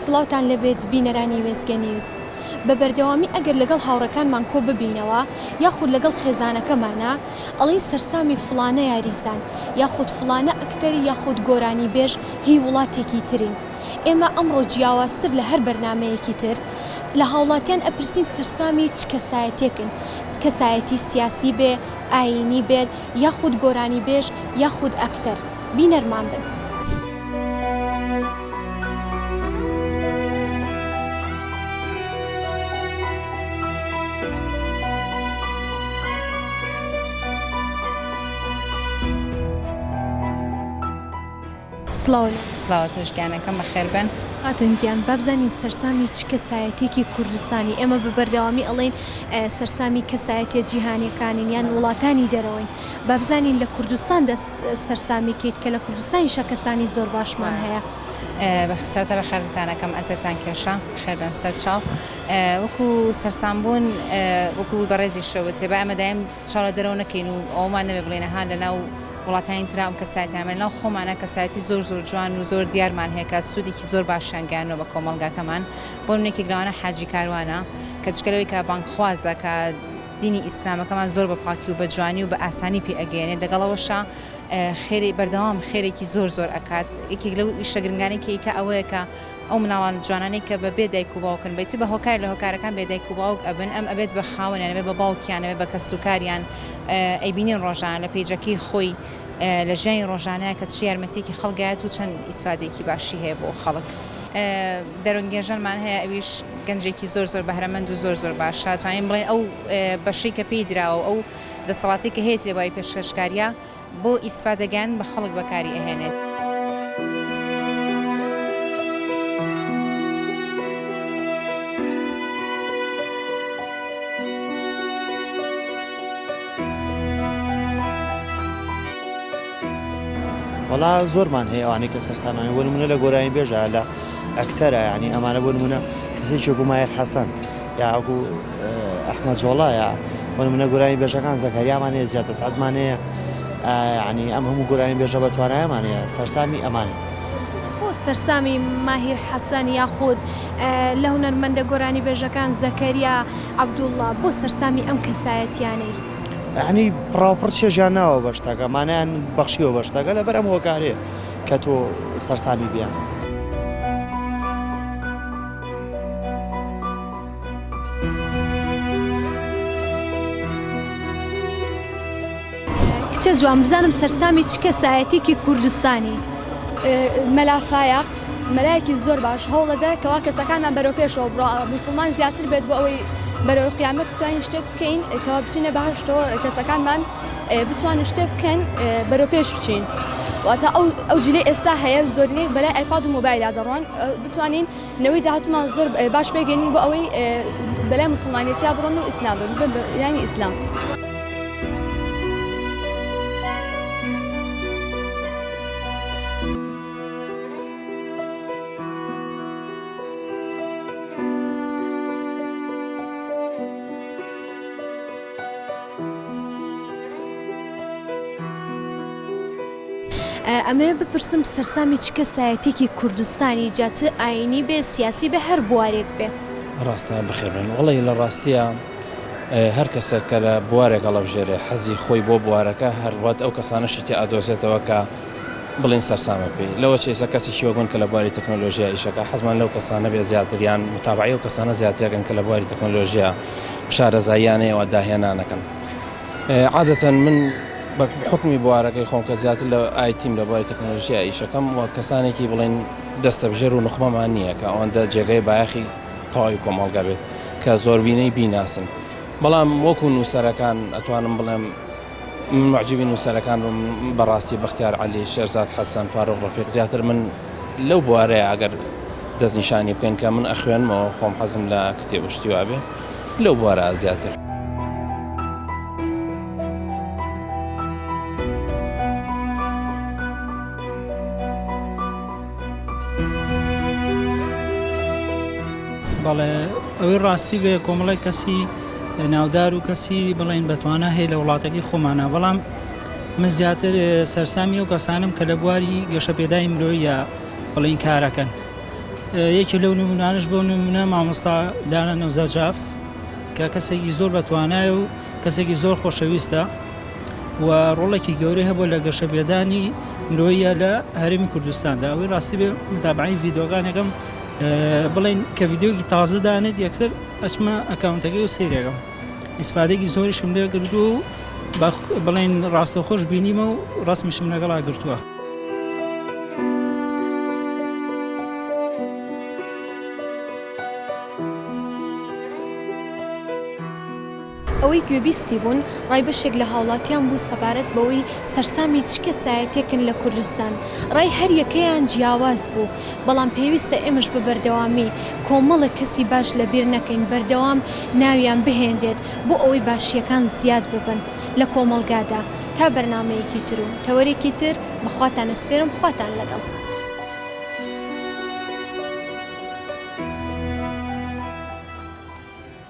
سڵاوتان لێبێت بینەرانی وێستگە نیوز. بە بەردەوامی ئەگەر لەگەڵ هاوڕێکانمان کۆ ببینەوە یاخود لەگەڵ خێزانەکەمانا ئەڵێین سەرسامی فڵانە یاریزان یاخود فڵانە ئەکتەر یاخود گۆرانیبێژ هی وڵاتێکی ترین. ئێمە ئەمڕۆ جیاوازتر لە هەر بەرنامەیەکی تر لە هاوڵاتیان ئەپرسین سەرسامی چ کەسایەتێکن کەسایەتی سیاسی بێ، ئایینی بێت یاخود گۆرانیبێژ یاخود ئەکتەر. بینەرمان بن. سڵاو تۆش گیانەکەم بەخێربێن. خاتون گیان بابزانین سەرسامی چ کەسایەتێکی کوردستانی ئێمە بە بەردەوامی ئەڵین سەرسامی کەسایەتە جیهانەکانین یان وڵاتانی دەرەوەین بابزانین لە کوردستان دەست سەرسامی کەیت کە لە کوردستانیشا کەسانی زۆر باشمان هەیە. سەرەتا بە خێرتان ئەکەم ئەزێتان کێشا بەخێر بێن سەر چاو وەکو سەرسام بوون وەکو بەڕێزی شەوت با ئەمە دایم چاو لە دەرەوە نەکەین و ئەومان نەبێ بڵێن ها لە ناو وڵاتانی ترا ئەم کەسایەتیانمان ناو خۆمانە کەسایەتی زۆر زۆر جوان و زۆر دیارمان هەیە کە سوودێکی زۆر باشیان گەیاندوە بە کۆمەڵگاکەمان بۆ منێکی لەوانە حاجی کاروانە کە جگە لەوەی کە بانگخوازە کە دینی ئیسلامەکەمان زۆر بە پاکی و بە جوانی و بە ئاسانی پێ ئەگەیەنێت دەگەڵ ئەوەشا خێری بەردەوام خێرێکی زۆر زۆر ئەکات یەکێک لەو ئیشە گرنگانەی کەیکە ئەوەیە کە ئەو مناڵان جوانانەی کە بە بێ دایک و باوکن بەیتی بە هۆکار لە هۆکارەکان بێ دایک و باوک ئەبن ئەم ئەبێت بە خاوەنیانەوێ بە باوکیانەوێ بە کەس و کاریان ئەیبینین ڕۆژانە لە پێیجەکەی خۆی لە ژیانی ڕۆژانەیە کە چ یارمەتیەکی خەڵگایەت و چەند ئیسفادێکی باشی هەیە بۆ خەڵک. دەرونگێژەرمان هەیە ئەویش گەنجێکی زۆر زۆر بەهرەمەند و زۆر زۆر باشە توانین بڵێن ئەو بەشەی کە پێی دراوە ئەو دەسەڵاتی کە هەیەتی لەباری پێشکەشکاریە بۆ ئیسفا دەگەن بە خەڵک بەکاری ئەهێنێت. وەڵا زۆرمان هەیە ئەوانەی کە سەرسامانن بۆ نمونە لە گۆرانی بێژە لە ئەکتەرە یعنی ئەمانە بۆ نمونە کەسێکی وەکو ماهر حەسەن یا وەکو ئەحمەد جۆڵایە بۆ نمونە گۆرانی بێژەکان زەکەریامان هەیە زیاد دەسعەتمان هەیە ینی ئەم هەموو گۆرانی بێژە بە توانایمان هەیە سەرسامی ئەمانە بۆ سەرسامی ماهیر حەسەن یاخود لە هونەرمەندە گۆرانی بێژەکان زەکەریا عەبدوڵڵا بۆ سەرسامی ئەم کەسایەتیانەی یەعنی پڕاوپڕ چێژیان ناوە بە شتەکە، مانایان بەخشیوە بە شتەکە لەبەر ئەم هۆکارەیە کە تۆ سەرسامی بیانە. کچە جوان بزانم سەرسامی چ کەسایەتیکی کوردستانی؟ مەلا فایەق مەلایەکی زۆر باش هەوڵەدە کەوا کەسەکانمان بەرەو پێشەوە بڕۆ موسڵمان زیاتر بێت بۆ ئەوەی بەرەو قیامەت بتوانین شتێک بکەین کەوا بچینە بەهەشتەوە کەسەکانمان بتوانن شتێ بکەن بەرەو پێش بچین واتە ئەو ئەو جلی ئێستا هەیە زۆرنەی بەلای ئایپاد و مۆبایللا دەڕۆن بتوانین نەوەی داهاتمان زۆر باش پێگەین بۆ ئەوەی بەلای مسلمانێتیا بڕۆن و ئیسلام بن ینی ئیسلام. ئەمەوێ بپرسم سەرسامی چ کەسایەتیەکی کوردستانی جا چ ئاینی بێ سیاسی بێ هەر بوارێک بێ؟ ڕاستە بەخێربێن وەڵی لە ڕاستیە هەر کەسە کە لە بوارێک هەڵەبژێرێ حەزی خۆی بۆ بوارەکە هەر وات ئەو کەسانەشی تێ ئەدۆزێتەوە کە بڵێین سەرسامە پێی، لەوە چێژتر کەسێکی وەک من کە لە بواری تەکنۆلۆژیا ئیش ئەکا، حەزمان لەو کەسانە بێت زیاتر یان متابەعەی ئەو کەسانە زیاتر ئەکەن کە لە بواری تەکنۆلۆژیا شارەزاییانەیەوە داهێنان ئەکەن. عادەتەن من بە حوکمی بوارەکەی خۆم کە زیاتر لە ئایتیم لە بواری تەکنۆلۆژیا ئیش ئەکەم و کەسانێکی بڵێین دەستەبژێر و نوخبەمان نییە کە ئەوەندە جێگەی بایەخی تەواوی کۆمەڵگە بێت کە زۆربینەی بیناسن، بەڵام وەکوو نووسەرەکان ئەتوانم بڵێم، من موعجیبی نووسەرەکان بووم بەڕاستی بەختیار عەلی، شێرزاد حەسەن، فاروق ڕەفیق زیاتر من لەو بوارەیە ئەگەر دەستنیشانی بکەین کە من ئەخوێنمەوە خۆم حەزم لە کتێب و شتی وابێ لەو بوارە زیاتر. بەڵێ ئەوەی ڕاستی بێ کۆمەڵێک کەسی ناودار و کەسی بڵێن بەتوانا هەیە لە وڵاتەکەی خۆمانە بەڵام من زیاتر سەرسامی ئەو کەسانم کە لە بواری گەشەپێدای مرۆیە بڵین کارەکەن یەکی لەو نمونانش بۆ نمونە مامۆستا دانە نەوزەجاف کە کەسێکی زۆر بەتوانای و کەسێکی زۆر خۆشەویستە و ڕۆڵێکی گەورەی هەبوو لە گەشە بێدانی مرۆیە لە هەرمی کوردستاندا ئەوەی ڕاستی بێ متابعی ڤیددیوگانەکەم بڵین کە ڤیددیوگی تازدانێت یەکسەر ئەچمە ئەکاونتەکەی و سەیری ئەکەم ئیسفادەیەکی زۆریشم لێ کردووە و با بڵێین ڕاستەوخۆش بینیمە و ڕەسمیشم لەگەڵا گرتووە. ئەوەی گوێبیستی بوون ڕای بەشێک لە هاوڵاتیان بوو سەبارەت بەوەی سەرسامی چ کەسایەتیەکن لە کوردستان، ڕای هەریەکەیان جیاواز بوو، بەڵام پێویستە ئێمەش بە بەردەوامی کۆمەڵێک کەسی باش لەبیر نەکەین بەردەوام ناویان بهێنرێت بۆ ئەوەی باشیەکان زیاد ببن لە کۆمەڵگادا، تا بەرنامەیەکی تر و تەوەرێکی تر بەخواتان ئەسپێرم خواتان لەگەڵ.